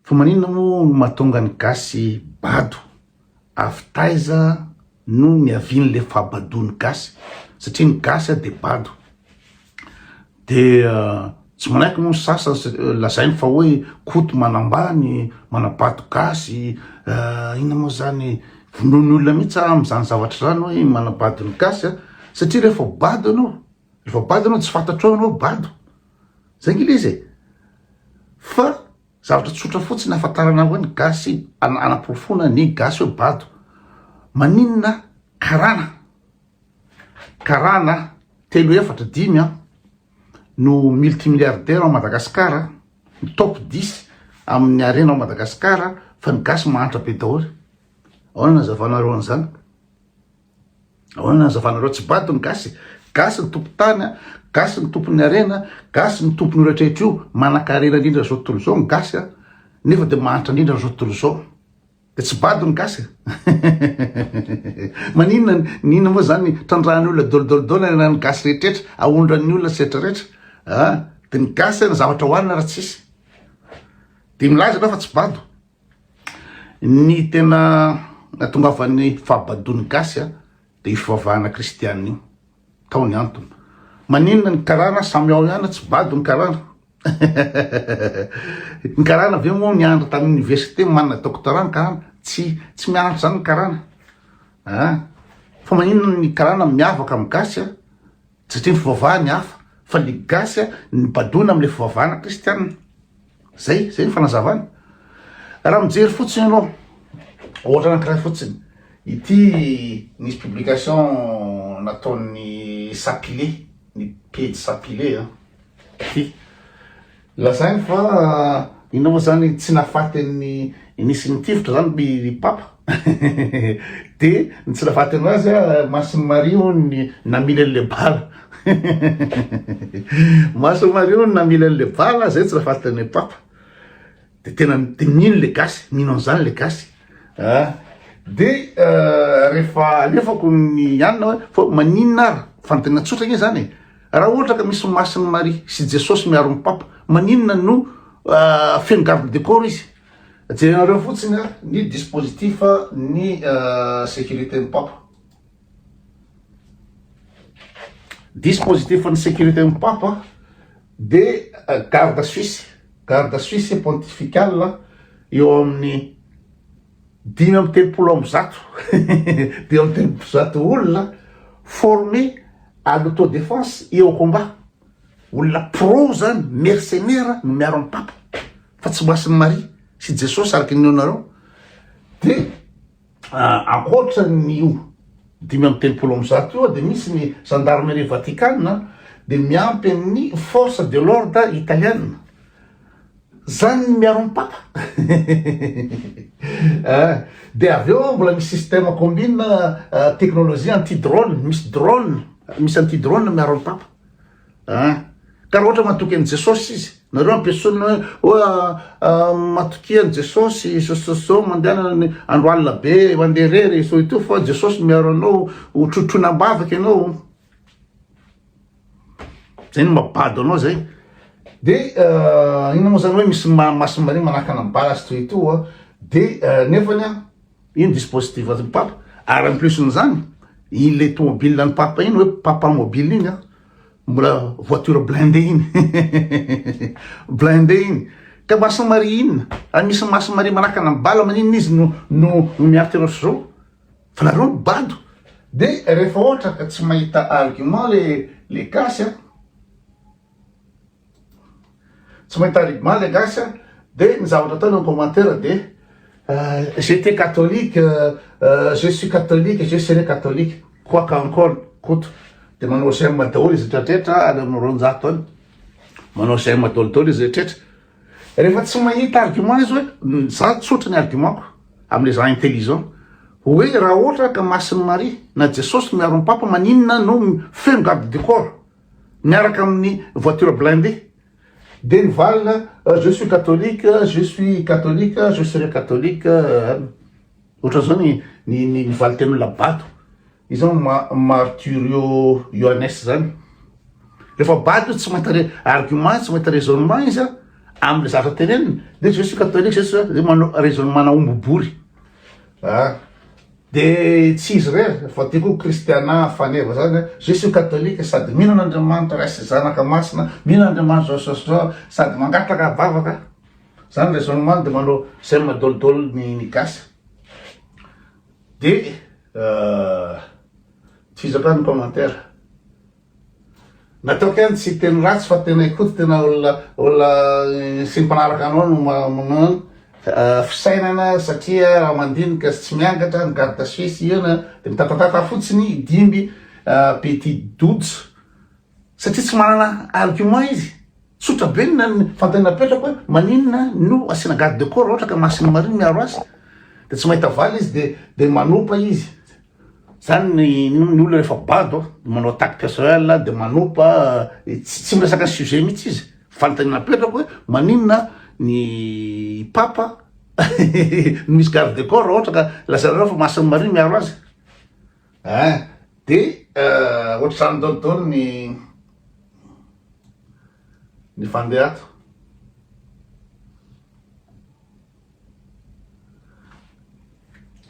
Fa maninona moa no mahatonga ny gasy bado? Avy taiza no niavian'le fahabadoan'ny gasy? Satria ny gasy dia bado. Dia tsy manaiky moa ny sasany, lazainy fa hoe koto manambany, manabado gasy, inona moa zany, vonoin'ny olona mihitsy aho amin'izany zavatra izany hoe manabado ny gasy satria rehefa bado ianao, Rehefa bado ianao tsy fantatrao ianao bado. Zay nge le izy e. Fa zavatra tsotra fotsiny ahafantarana hoe ny gasy anaporofoana ny gasy hoe bado. Maninona karana karana telo efatra dimy an no multimilliardaire ao Madagascar ny top 10 amin'ny harena ao Madagascar fa ny gasy mahantra be daholo. Ahoana ny nazavanareo an'izany? Ahoana ny hazavanareo? Tsy bado ny gasy e! Gasy ny tompon-tany a, gasy ny tompon'ny harena, gasy ny tompon'io rehetrarehetra io, manan-karena indrindra zao tontolo zao ny gasy a, nefa de mahantra indrindra am'zao tontolo zao. De tsy bado ny gasy e! Maninona ny inona moa zany trandrahan'ny olona dol dol dol ny an'ny gasy rehetrarehetra, ahondran'ny olona sy rehetra rehetra a! De ny gasy ny zavatra hohanina raha tsisy. De milaza anao fa tsy bado. Ny tena nahatongavan'ny fahabadoan'ny gasy dia io fivavahana kristiana io, tao ny antony. Maninona ny karana samy ao ihany tsy bado ny karana? Ny karana ve moa niandry tany université manana doctorat ny karana? Tsy tsy miandry izany ny karana an! Fa maninona ny karana miavaka amin'ny gasy an! Satria ny fivavahany hafa fa le gasy a nibadoana amle fivavahana kristianina. Zay, zay ny fanazavana. Raha mijery fotsiny anao, ohatra anankiray fotsiny, ity nisy publication nataon'ny Sapile, ny pejy Sapile an, ity. Lazainy fa inona moa zany tsy nahafaty an'i nisy nitifitra zany by ry papa de ny tsy nahafaty anazy a masin'i maria hono ny namily an'le bala masin'i maria hono namily an'le bala zay tsy nahafaty an'i papa de tena mino le gasy mino an'zany le gasy a ah. de euh, rehefa alefako ny anina hoe fa maninona ary fanontaniana tsotra anie zany e raha ohatra ka misy masin'ny maria sy jesosy miaro ny papa maninona no euh, feno garde de corps izy jerenareo fotsiny a ny dispositif ny euh, sécurité ny papa Dispositif ny sécurité ny Papa dia garde suisse, garde suisse pontifical eo amin'ny dimy amby telopolo amby zato dimy amby telopolo zato olona formé à l'autodéfense et au combat. Olona pro zany, mercenaire no miaro an'i Papa fa tsy masin'i Maria sy Jesosy araka ny neonareo dia Ankoatra an'io dimy amby telopolo amby zato io dia misy ny Gendarmerie Vatikana dia miampy an'ny Force de l'Ordre Italiana. Zany ny miaro ny Papa. Eh, dia avy eo mbola misy système combine eh, technologie anti-drone, misy drone, misy anti-drone miaro ny Papa. Ah, ka ohatra matoky an'i Jesosy izy, nareo ampiasaina hoe hoe ah, ah, matokia an'i Jesosy, sososo mandehanana ny andro alina be, mandeha irery, so ito fa Jesosy miaro anao, ho trotroina am-bavaka ianao. Zay no mabado anao zay. De ah, inona moa zany hoe misy ma- maso maria manakana ny bala sy toy ito, ah. de ah, nefany ah, Iny dispositif an'ny papa ary en plus n'izany iny le tomobile an'ny papa iny hoe papa mobile iny an mbola voiture blindé iny blindé iny ka maso mari inona ary misy maso mari manakana ny bala maninona izy no no no miaritra anao zao fa nareo ny bado de rehefa ohatra ka tsy mahita argument le le gasy an Tsy mahay tariby maly le gasy a. Dia ny zavatra ataony en commentaire dia J'étais catholique, je suis catholique, je serai catholique, quoi qu'en col, Koto. Dia manao j'aime daholo izy retraretra any amin'ny roanjato any. Manao j'aime daholo daholo izy retraretra. Rehefa tsy mahita argument izy hoe za tsotra ny argument-ko amin'ilay za intelligent. Hoe raha ohatra ka masin'i Maria na Jesosy miaro ny Papa maninona no feno garde du corps? miaraka amin'ny voiture blindée dia nivalona je suis catholique, je suis catholique, je serai catholique ohatran'izao ny ny ny valin-ten'olona bato izao ny ma- marturio Yohanes zany rehefa bato izy tsy mahita re- argument tsy mahita raisonnement izy a amin'ny zavatra teneniny dia je suis catholique je suis manao raisonnement-na omby bory a Dia tsy izy irery fa dia koa kristiana faneva zany a, je suis catholique sady mino an'Andriamanitra Ray sy Zanaka Masina, mino an'Andriamanitra zao sy zao sady mangataka vavaka, zany raisonnement dia manao zay madolidolo ny gasy. Dia tsy izy akory ny commentaire. Nataoko ihany tsy hiteny ratsy fa tena i Koto tena olona olona sy ny mpanaraka anao no manao fisainana satria raha mandinika sy tsy miangatra ny garde suisse hiona dia mitatatata fotsiny i Dimby petit dojo satria tsy manana argument izy. Tsotra be ny fanontaniana apetrako hoe maninona no asiana garde de corps raha ohatra ka masin'ny marine miaro azy dia tsy mahita valiny izy dia dia manopa izy. Zany ny ny olona rehefa bado dia manao attaque personnelle dia manopa dia tsy tsy miresaka ny sujet mihitsy izy. Fanontaniana apetrako hoe maninona ny papa no misy garde de corps raha ohatra ka lazainareo fa masin'ny marine miaro azy. Hein? Dia ohatr'izany daholo daholo ny ny fandeha ato.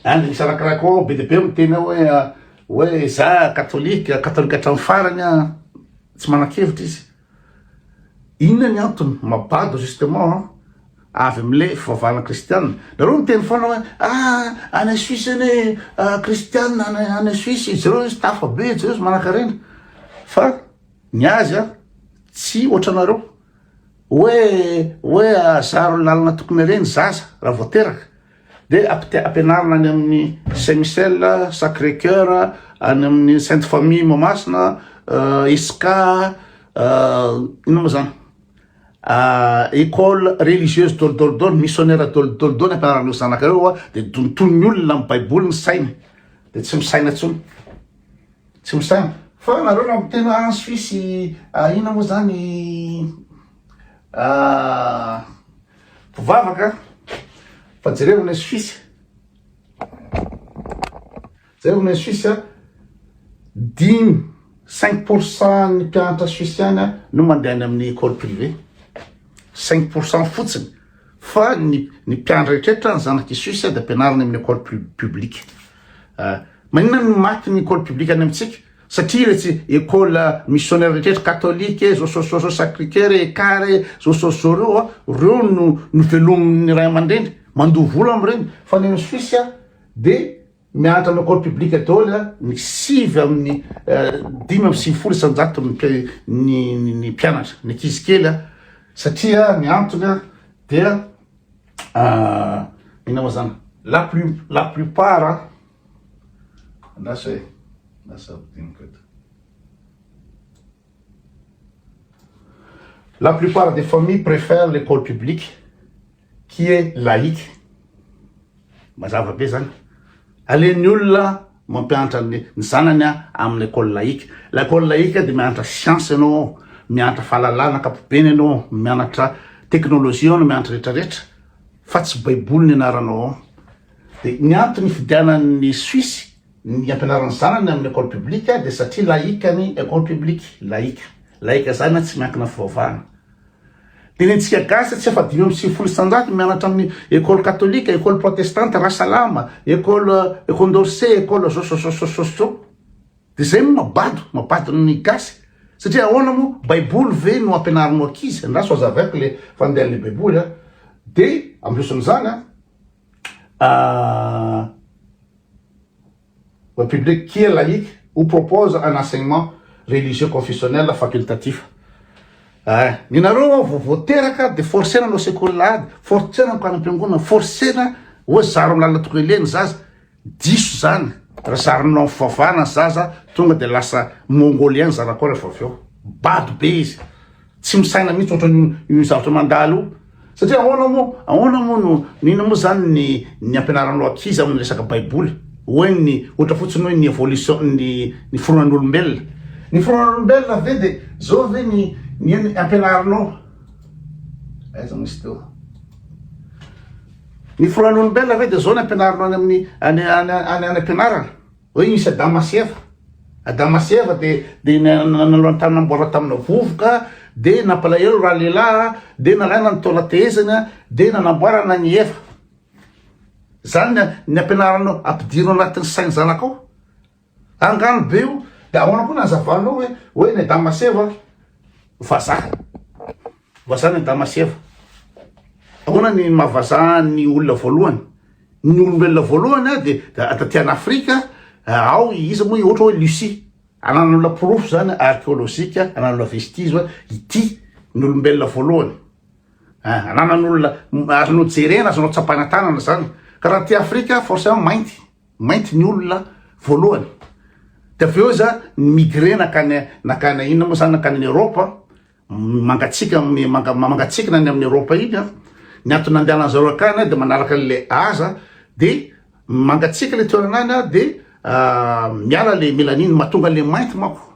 Hein? Dia misarakaraka koa ao be dia be miteny ao hoe hoe za katolika, katolika hatramin'ny farany an, tsy manan-kevitra izy. Inona ny antony? Mabado justement an! Avy amin'le fivavahana kristiana. Nareo miteny foana hoe ah any Suisse anie ah kristiana any Suisse, jereo izy tafa be, jereo izy manankarena. Fa ny azy an, tsy ohatranareo. Hoe hoe zaro ny lalana tokony alehan'ny zaza raha vao teraka. Dia ampianarina any amin'ny Saint Michel, Sacré Coeur, any amin'ny Sainte Famille Mahamasina, ESK, inona moa zany? École religieuse dôly dôly dôly, missionnaire dôly dôly dôly ampianarana ireo zanaka ireo dia donton'ny olona amin'ny Baiboly ny sainy dia tsy misaina intsony. Tsy misaina. Fa nareo raha miteny hoe en Suisse inona moa zany? Mpivavaka fa jereo ny Suisse. Jereo ny Suisse dimy cinq pour cent ny mpianatra suissiana no mandeha any amin'ny école privée. Cinq pour cent fotsiny fa ny ny mpianatra rehetra ny zanak'i Suisse dia ampianarina amin'ny école publique. Ah, maninona ny maty ny école publique any amintsika? Satria retsy ecole missionnaire rehetra catholique e, zosozozo sacre coeur e, car e, zosozozo reo a, reo no novelomin'ny ray aman-dreny, mandoa vola amin'ireny, fa ny any Suisse a de mianatra amin'ny ecole publique daholo a, ny sivy amin'ny dimy amby sivifolo isan-jato ny ny mpianatra, ny ankizy kely a, satria ny antony a dia inona moa zany la plus la plupart a. Andraso e! Lasa ampidiniko eto. La plupart des familles préfèrent l'école publique qui est laïque. Mazava be zany. Alen'ny olona mampianatra ny zanany amin'ny école laïque. L'école laïque dia mianatra science ianao, mianatra fahalalana ankapobeny ianao, mianatra technologie ianao, mianatra rehetra rehetra fa tsy baiboly ny anaranao ao. Dia ny antony hifidianan'ny Suisse ny hampianarany zanany amin'ny école publique dia satria laïque ny école publique, laïque. Laïque izany tsy miankina fivavahana. Dia ny antsika gasy tsy afa-dimy amby sivifolo isanjato no mianatra amin'ny école katolika, école protestante, Rasalama, école condorcet, école zôzôzôzôzôzô. Dia izay no mabado, mabado ny gasy. Satria ahoana moa, baiboly ve no ampianarinao ankizy, andraso hazavaiko le fandehan'le baiboly a. Dia ambioson'izany a, Ah, le public qui est laïque ou propose un enseignement religieux confessionnel facultatif. Eh, ny nareo vao vao teraka de forcena anao sekoly lahady, forcena mikano am-piangonana, forcena hoe zaro amin'ny lalana tokony aleha ny zaza. Diso zany ra zarinao am fivavahana zaza tonga de lasa mongolien zanakao rehefa avy eo. Bado be izy. Tsy misaina mihitsy ohatrany io zavatra mandalo io. Satria ahoana moa ahoana moa no no inona moa zany ny ny ampianaranao ankizy am resaka baiboly. Hoe ny ohatra fotsiny hoe ny evolution ny ny fironan'olombelona. Ny fironan'olombelona ve de zao ve ny ny ampianarinao. Aiza moa izy teo. Ny foroan'olombelona ve dia zao ny ampianarinao any amin'ny any any any ampianarana? Hoe nisy Adama sy Eva. Adama sy Eva dia dia nanao ny tany namboarina tamina vovoka, dia nampalahelo raha lehilahy, dia nalaina ny taola tehezany, dia nanamboarana ny Eva. Zany ny ampianaranao, ampidirina anatin'ny sain'ny zanakao. Angano be io de ahoana koa nazavanao hoe hoe ny Adama sy Eva vazaha vazaha ny Adama sy Eva ahoana ny maha vazaha ny olona voalohany ny olombelona voalohany a de taty an'Afrika ao iza moa ohatra hoe Lucie anan'olona porofo zany archéologique anan'olona vestige hoe ity ny olombelona voalohany Ah, ananan'olona azonao jerena azonao tsapaina tanana zany ka raha ty afrika forcément mainty Mainty ny olona voalohany. Dia avy eo iza ni-migrer nankany nankany inona moa izany nankany any Europe mangatsiaka amin'ny manga mangatsiakana any amin'ny Europe iny an. Ny antony nandehanan'ny zareo hankany dia manaraka an'ilay aza dia mangatsiaka ilay toerana any dia miala ilay melanin mahatonga an'ilay mainty manko.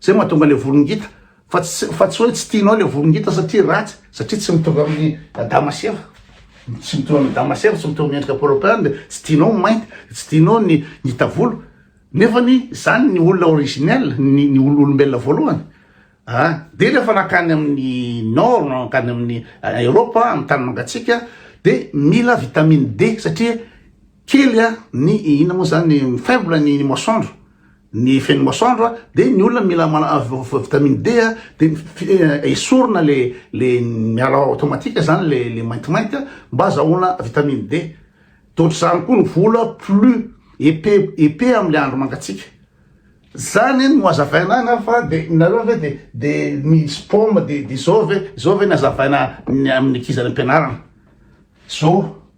Zay mahatonga le volo ngita fa tsy fa tsy hoe tsy tianao le volo ngita satria ratsy satria tsy mitovy amin'ny Adama sy Eva tsy mitovy amin'ny Adama sy Eva tsy mitovy amin'ny endrika Polopain de tsy tianao ny mainty de tsy tianao ny ngita volo nefa ny zany ny olona originel ny ny olombelona voalohany ah de rehefa nakany amin'ny nord nakany amin'ny Europa amin'ny tany mangatsiaka de mila vitamine D satria kely a ny ina moa zany faible ny masoandro Ny feno masoandro a, de ny olona mila manana vitamine D a, de esorina le le miala automatique zany le le maintimainty a, mba azahoana vitamine D, de ohatr'izany koa ny vola plus épais épais amle andro mangatsiaka, zany no hazavaina ahy na fa de nareo ve de de misy paoma de de zao ve zao ve ny hazavaina ny amin'ny ankizy any am-pianarana zao.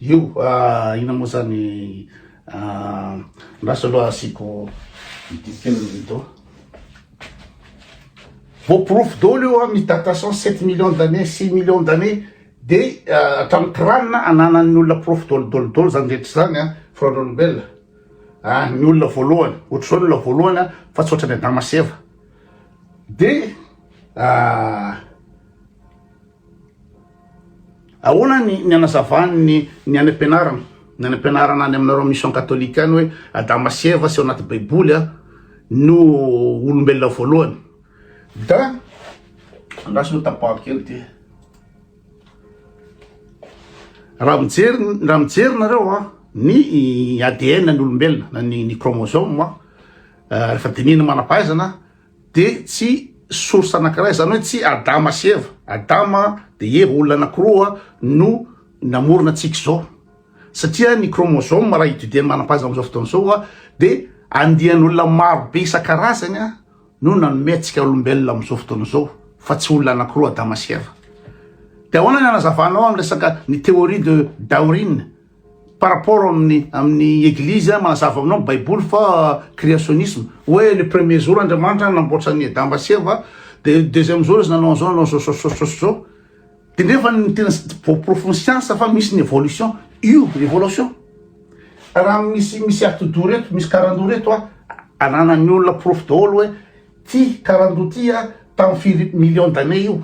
Io ah ina moa zany ah ndraso aloha asiako ity film ito. Voaporofo daholo io amin'ny datation sept millions d'années, six millions d'années de hatramin'ny crâne ananan'ny olona porofo daholo daholo daholo zany rehetra zany a firaon'olombelona a ny olona voalohany ohatr'izao ny olona voalohany a fa tsy ohatran'ny Adama sy Eva de ah Ahoana ny anazavany ny ny any ampianarana ny any ampianarana any aminareo mission catholique any hoe Adama sy Eva sy ao anaty baiboly a no olombelona voalohany da andraso aloha tapaho kely ty raha mijery raha mijery nareo a ny ADN ny olombelona na ny ny chromosome rehefa dinihina manam-pahaizana de tsy source anakiray zany hoe tsy Adama sy Eva, Adama de Eva olona anakiroa no namorona antsika zao satria ny chromosome raha étudier ny manam-pahaizana amizao fotoana zao a de andian' olona maro be isan-karazany a no nanome antsika olombelona amizao fotoana zao fa tsy olona anakiroa Adama sy Eva de ahoana ny anazavanao am resaka ny théorie de Dawrine par rapport amin'ny amin'ny eglizy manazava aminao baiboly fa créationnisme hoe le premier jour Andriamanitra nanamboatra ny Adama sy Eva de deuxième jour izy nanao an'izao nanao zao zao zao zao zao de nefa ny tena voaporofo ny siansa fa misy ny évolution io évolution raha misy misy atidoha reto misy karandoha reto a ananan'ny olona porofo daholo hoe ty karandoha ty a tamin'ny firy million d'année io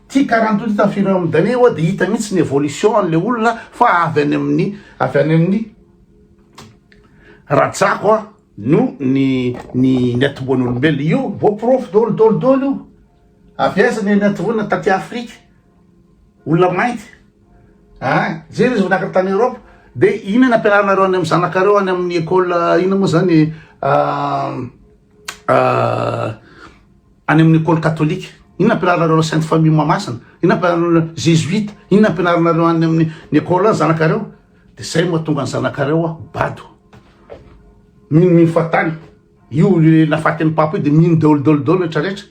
Ty karanto ty tafiro eo amin'ny dahlia oa dia hita mihitsy ny evolution an'ilay olona fa avy any amin'ny avy any amin'ny rajako a no ny ny ny atomboan'olombelona io vao porofo dolo dolo dolo io avy aiza ny ny atomboana taty Afrika olona mainty a jery izy vonaka tany Europe dia ina ny ampianarinareo any amin'ny zanakareo any amin'ny école ina moa zany a Any amin'ny Ecole Catholique. Inona ampianarinareo Sainte Famille Mahamasina? Inona ampianarinareo Jesuite? Inona ampianarinareo any amin'ny ny Ecole any zanakareo? De zay mahatonga ny zanakareo a bado. Mino mino fa tany. Io nafatin'ny papa io de mino daholo daholo daholo rehetra rehetra.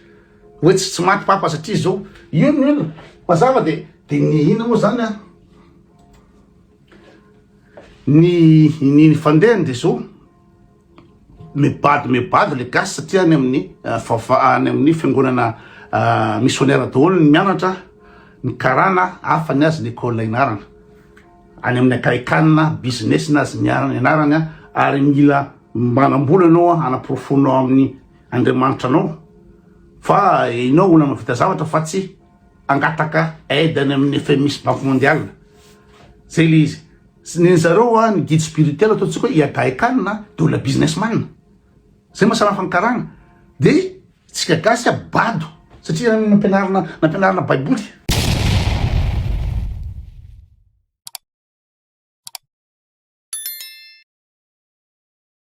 Hoe tsy tsy maty papa satria zao. Io no inona? Mazava de de ny inona moa zany a? Ny ny fandehany de zao. Mibado mibado le gasy satria any amin'ny vava any amin'ny fiangonana missionnaire daholo ny mianatra ny karana hafa ny azy ny école inarana any amin'ny akaikanina business na azy miarana inarany ary mila manambola anao hanaporofonao amin'ny andriamanitra anao fa inao olona mavita zavatra fa tsy angataka aide any amin'ny FMI sy banque mondiale zay le izy Tsy ny zareo hoa ny guide spirituel ataontsika hoe iadahy khan dia olona business man. Zay maha samy hafa ny karana. Dia tsika gasy a bado satria nampianarina nampianarina baiboly.